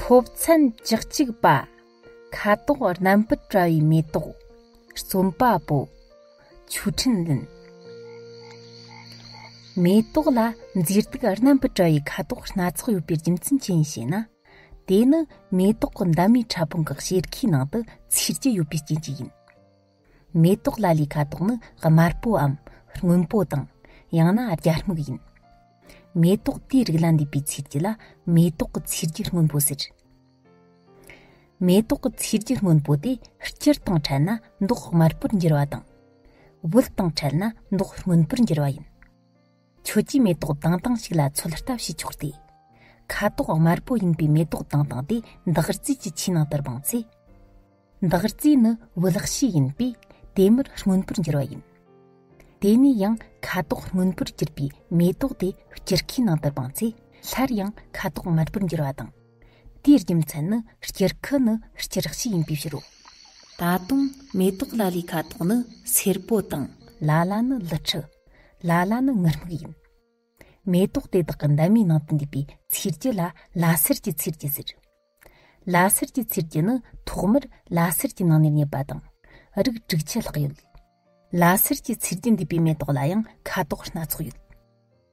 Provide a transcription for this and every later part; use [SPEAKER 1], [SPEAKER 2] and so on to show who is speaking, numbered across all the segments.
[SPEAKER 1] ཕོབ་མཚན་བཅུ་གཅིག་པ་ཁ་དོག་རྣམ་པར་བཀྲ་བའི་མེ་ཏོག་རྩོམ་པ་པོ་ཆུ་ཕྲིན་ལན་མེ་ཏོག་ལ་མཛེས་སྡུག་རྣམ་པར་བཀྲ་བའི་ཁ་དོག་སྣ་ཚོགས་ཡོད་པའི་རྒྱུ་མཚན་ཅི་ཡིན་ཞེ་ན་དེ་ནི་མེ་ཏོག་གི་འདབ་མའི་ཕྲ་ཕུང་གི་གཤེར་ཁའི་ནང་དུ་ཚེར་གྱི་ཡོད་པའི་རྐྱེན་གྱིས་ཡིན། མེ་ཏོག་ལ་ལའི་ཁ་དོག་ནི་དམར་པོའམ་སྔོན་པོ་དང། ཡང་ན་རྒྱ་སྨུག་ཡིན། མེ་ཏོག་དེའི་རིགས་ལ་འདུས་པའི་ཚིལ་གྱིས་ལ་མེ་ཏོག་གི་ཚིལ་རྒྱུ་སྔོན་པོ་ཟེར། མེ་ཏོག་གི་ཚིལ་རྒྱུ་སྔོན་པོ་དེ་སྤྱིར་བཏང་ཕྲལ་ན་མདོག་དམར་པོར་འགྱུར་བ་དང། དབུལ་སྟངས་ཕྲལ་ན་མདོག་སྔོན་པོར་འགྱུར་བ་ཡིན། ཁྱོད་ཀྱིས་མེ་ཏོག་དང་དང་ཞིག་ལ་ཚོད་ལྟ་བྱས་ཆོག་སྟེ། ཁ་དོག་དམར་པོ་ཡིན་པའི་མེ་ཏོག་དང་དང་དེ་འདག་རྫས་ཀྱི་ཆུའི་ནང་དུ་སྦངས་ཚེ། འདག་རྫས་ནི་བུ་ལག་ཤོས་ཡིན་པས་དེ་མུར་སྔོན་པོར་འགྱུར་བ་ཡིན། དེ་ནས་ཡང་ཁ་དོག་སྔོན་པོར་གྱུར་པའི་མེ་ཏོག་དེ་སྐྱུར་ཁའི་ནང་དུ་སྦངས་ཚེ་སླར་ཡང་ཁ་དོག་དམར་པོར་འགྱུར་བ་དང། དེའི་རྒྱུ་མཚན་ནི་སྐྱེར་ཁུ་ནི་སྐྱེ་རགས་ཤིག་ཡིན་པའི་ཕྱིར་རོ། ད་དུང་མེ་ཏོག་ལ་ལའི་ཁ་དོག་ནི་སེར་པོ་དང། ལ་ལ་ནི་ལི་ཁྲི། ལ་ལ་ནི་ངུར་སྨུག་ཡིན། མེ་ཏོག་དེ་དག་གི་འདབ་མའི་ནང་དུ་འདུས་པའི་ཚིལ་རྒྱུ་ལ་ལ་སེར་གྱི་ཚིལ་རྒྱུ་ཟེར། ལ་སེར་གྱི་ཚིལ་རྒྱུ་ནི་ཐོག་མར་ལ་སེར་གྱི་ནང་ནས་རྙེད་པ་དང། རིགས་དྲུག་ཆད་ལྷག་ཡོད། ལ་སེར་གྱི་ཚིལ་རྒྱུ་འདུས་པའི་མེ་ཏོག་ལ་ཡང་ཁ་དོག་སྣ་ཚོགས་ཡོད།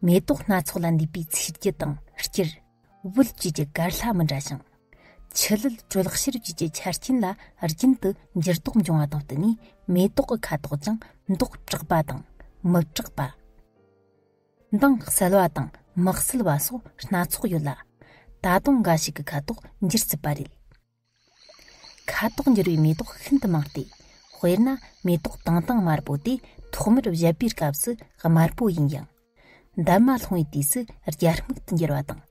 [SPEAKER 1] མེ་ཏོག་སྣ་ཚོགས་ལ་འདུས་པའི་ཚིགས་བརྒྱུད་དང་སྤྱིར། དབུལ་བཅུད་ཀྱི་གར་ལྷ་མི་འདྲ་ཞིང། ཆུ་ལུད་དྲོད་ལྷག་ཕྱིར་བཅུད་ཀྱི་ཆ་རྐྱེན་ལ་རྒྱུན་དུ་འགྱུར་ལྡོག་འབྱུང་བ་དང་བསྟུན་ནས་མེ་ཏོག་གི་ཁ་དོག་ཀྱང་མདོག་དྲག་པ་དང་མི་དྲག་པ། མདངས་གསལ་བ་དང་མི་གསལ་བ་སོགས་སྣ་ཚོགས་ཡོད་ལ། ད་དུང་འགའ་ཞིག་གི་ཁ་དོག་འགྱུར་སྲིད་པ་རེད། ཁ་དོག་འགྱུར་བའི་མེ་ཏོག་ཤིན་ཏུ་མང་སྟེ། དཔེར་ན་མེ་ཏོག་དྭངས་དྭངས་དམར་པོ་དེ་ཐོག་མར་བཞད་པའི་སྐབས་སུ་དམར་པོ་ཡིན་ཡང། འདབ་མ་ལྷུང་བའི་དུས་སུ་རྒྱ་སྨུག་ཏུ་འགྱུར་བ་དང།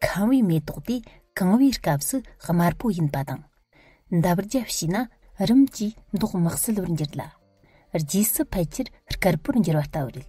[SPEAKER 1] ཁང་བའི་མེ་ཏོག་དེ་གང་བའི་སྐབས་སུ་དམར་པོ་ཡིན་པ་དང། འདབ་རྒྱབ་བྱས་ན་རིམ་གྱིས་མདོག་དམག་སིལ་བུར་འགྱུར་ལ། རྗེས་སུ་ཕལ་ཆེར་དཀར་པོར་འགྱུར་བ་ལྟ་བུ་རེད།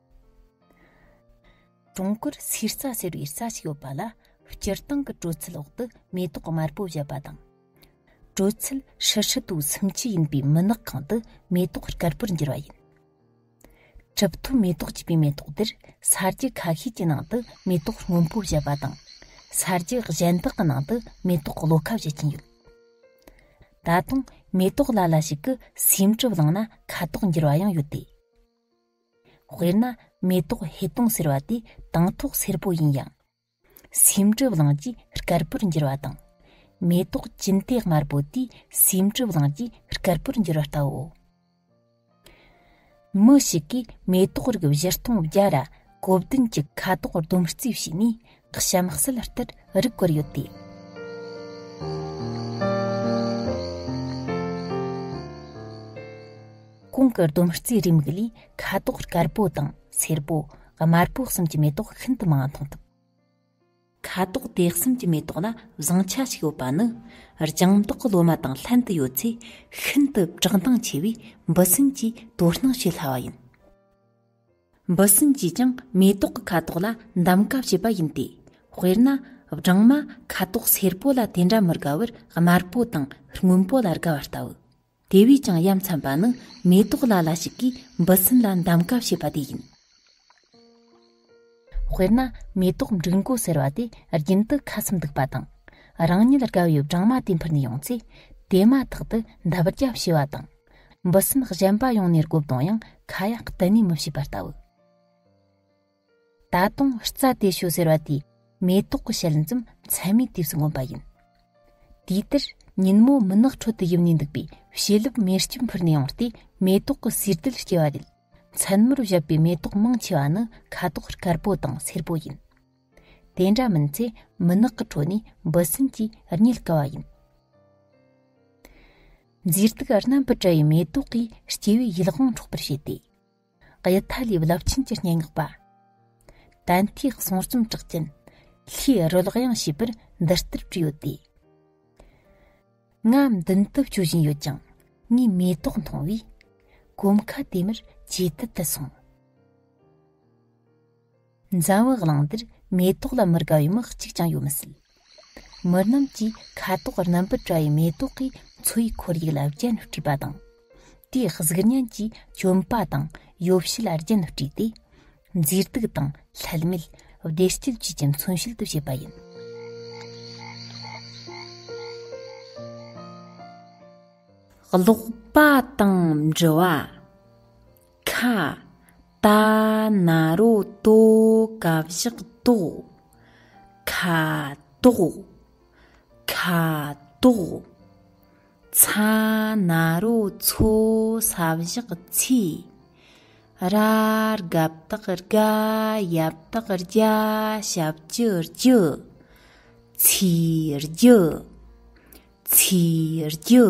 [SPEAKER 1] ཀྲུང་གོར་ཚིག་རྩ་ཟེར་བའི་རྩ་ཞིག་ཡོད་པ་ལ་སྤྱིར་བཏང་གི་དྲོད་ཚད་འོག་ཏུ་མེ་ཏོག་དམར་པོ་བཞད་པ་དང། དྲོད་ཚད་ཧྲིལ་ཧྲིལ་དུ་སུམ་བཅུ་ཡིན་པའི་མུན་ནག་ཁང་དུ་མེ་ཏོག་དཀར་པོར་འགྱུར་བ་ཡིན། གྲུབ་ཐོབ་མེ་ཏོག་ཅེས་པའི་མེ་ཏོག་འདིར་ས་རྒྱུ་ཁ་ཤས་ཀྱི་ནང་དུ་མེ་ཏོག་སྔོན་པོ་བཞད་པ་དང། ས་རྒྱུ་གཞན་དག་གི་ནང་དུ་མེ་ཏོག་གློ་ཁ་བཞད་ཀྱིན་ཡོད། ད་དུང་མེ་ཏོག་ལ་ལ་ཞིག་གི་སེའུ་འབྲུ་བླངས་ན་ཁ་དོག་འགྱུར་བ་ཡང་ཡོད་དེ། དཔེར་ན་མེ་ཏོག་ཧེ་སྟོང་ཟེར་བ་དེ་དང་ཐོག་སེར་པོ་ཡིན་ཡང། སེམས་གྲིབ་ལངས་རྗེས་དཀར་པོར་འགྱུར་བ་དང། མེ་ཏོག་གྱིན་གཏེག་དམར་པོ་དེ་སེམས་གྲིབ་ལངས་རྗེས་དཀར་པོར་འགྱུར་བ་ལྟ་བུའོ། མི་ཞིག་གིས་མེ་ཏོག་རིགས་བཞི་སྟོང་བརྒྱ་ར་གོ་བདུན་གྱི་ཁ་དོག་ཟླུམ་རྩིས་བྱས་ནས་གཤམ་གསལ་ལྟར་རིགས་བཀོད་ཡོད་དེ། གོང་གི་ཟླུམ་རྩིས་རེའུ་མིག་ལས་ཁ་དོག་དཀར་པོ་དང་སེར་པོ་དམར་པོ་གསུམ་གྱི་མེ་ཏོག་ཤིན་ཏུ་མང་བ་མཐོང་ཐུབ། ཁ་དོག་དེ་གསུམ་གྱི་མེ་ཏོག་ལ་བཟང་ཆ་ཞིག་ཡོད་པ་ནི་ལྗང་མདོག་གི་ལོ་མ་དང་ལྷན་དུ་ཡོད་ཚེ་ཤིན་ཏུ་བཀྲག་མདངས་ཆེ་བས་འབུ་སྲིན་གྱིས་དོ་སྣང་བྱེད་སླ་བ་ཡིན། འབུ་སྲིན་གྱིས་ཀྱང་མེ་ཏོག་གི་ཁ་དོག་ལ་འདམ་ག་བྱེད་པ་ཡིན་ཏེ། དཔེར་ན། སྦྲང་མ་ཁ་དོག་སེར་པོ་ལ་དེ་འདྲ་མི་དགའ་བར་དམར་པོ་དང་སྔོན་པོ་ལ་དགའ་བ་ལྟ་བུ། དེ་བས་ཀྱང་ཡ་མཚན་པ་ནི་མེ་ཏོག་ལ་ལ་ཞིག་གིས་འབུ་སྲིན་ལ་འདམ་ག་བྱེད་པ་དེ་ཡིན། དཔེར་ན་མེ་ཏོག་འབྲུག་མགོ་ཟེར་བ་དེ་རྒྱུན་དུ་ཁ་ཚུམ་འདུག་པ་དང། རང་ཉིད་དགའ་བའི་སྦྲང་མ་དེ་འཕུར་ནས་ཡོང་ཚེ། དེ་མ་ཐག་ཏུ་འདབ་བརྒྱ་བྱེ་བ་དང། འབུ་སྲིན་གཞན་པ་ཡོང་ནས་རྐོ་བཏང་ཡང་ཁ་ཡག་གཏན་ནས་མི་བྱེད་པ་ལྟ་བུ། ད་དུང་རྩྭ་དེ་ཤོད་ཟེར་བ་དེས་མེ་ཏོག་གི་ཞལ་འཛུམ་མཚན་མའི་དུས་སུ་མངོན་པ་ཡིན། དུས་དེར་ཉིན་མོ་མུན་ནག་ཁྲོད་དུ་ཡིབ་ནས་འདུག་པའི་བྱེ་ལུབ་མེར་སྐྱིབས་འཕུར་ནས་ཡོང་སྟེ་མེ་ཏོག་གི་སུས་རྡུལ་སྐྱེ་བ་རེད། མཚན་མོར་བཞད་པའི་མེ་ཏོག་མང་ཆེ་བ་ནི་ཁ་དོག་དཀར་པོ་དང་སེར་པོ་ཡིན། དེ་འདྲ་མིན་ཚེ་མུན་ནག་གི་ཁྲོད་ནས་འབུ་སྲིན་གྱིས་རྙེད་དཀའ་བ་ཡིན། མཛེས་སྡུག་རྣམ་པར་བཀྲ་བའི་མེ་ཏོག་གིས་སྐྱེ་བོའི་ཡིད་དབང་འཕྲོག་པར་བྱེད་དེ། གཡུ་མཐའ་ལས་རླབས་ཆེན་གྱི་སྙན་ངག་པ། དན་ལྷའི་གསུང་རྩོམ་གྲགས་ཅན། ལྷའི་རོལ་དབྱངས་ཞེས་པར་འདི་ལྟར་བྲིས་ཡོད་དེ། ང་མདུན་དུ་བསྐྱོད་བཞིན་ཡོད་ཀྱང་ངའི་མེ་ཏོག་མཐོང་བས། གོམ་ཁ་དེ་མུར་ཇེ་དལ་དུ་སོང། འཛམ་བུ་གླིང་འདིར་མེ་ཏོག་ལ་མི་དགའ་བའི་མི་གཅིག་ཀྱང་ཡོད་མི་སྲིད། མི་རྣམས་ཀྱིས་ཁ་དོག་རྣམ་པར་བཀྲ་བའི་མེ་ཏོག་གི་འཚོ་བའི་ཁོར་ཡུག་ལ་རྒྱན་དཀྲིས་པ་དང། དེའི་གཟུགས་བརྙན་གྱི་གྱོན་པ་དང་ཡོ་བྱད་ལ་རྒྱན་དཀྲིས་ཏེ། མཛེས་སྡུག་དང་ལྷད་མེད་བདེ་སྐྱིད་བཅས་ཀྱི་མཚོན་བྱེད་དུ་བྱེད་པ་ཡིན། ཀློག་པ་དང་འབྲི་བ། ཁ་ད་ན་རོ་ཏོ་ཀ་བཞག་ཏོག་ཁ་ཏོག་ཁ་ཏོག་ཚ་ན་རོ་ཚོ་ས་བཞག་ཚི་ར་རྒ་བཏགས་རྒ་ཡ་བཏགས་རྒྱ་ཞབས་ཀྱི་རྒྱུ་ཚི་རྒྱུ་ཚི་རྒྱུ།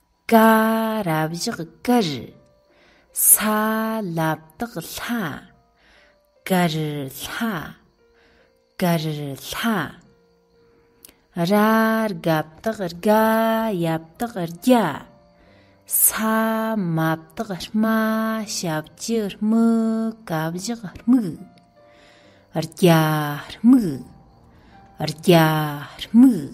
[SPEAKER 1] ཀ་རབ་བཞག་དཀར། ས་བླབ་དག་ལྷ། དཀར་ལྷ། དཀར་ལྷ། ར་རྒབ་དག་རྒ་ཡབ་དག་རྒྱ། ས་མབ་དག་རྨ་ཞབས་ཀྱི་དམིགས་ཀ་བཞག་དམིགས། རྒྱ་དམིགས། རྒྱ་དམིགས།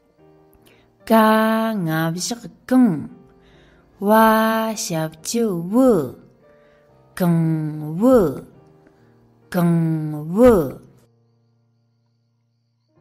[SPEAKER 1] ཀ་ལྔ་བཞག་གང། བ་ཞབས་ཀྱི་བུ། གང་བུ། གང་བུ།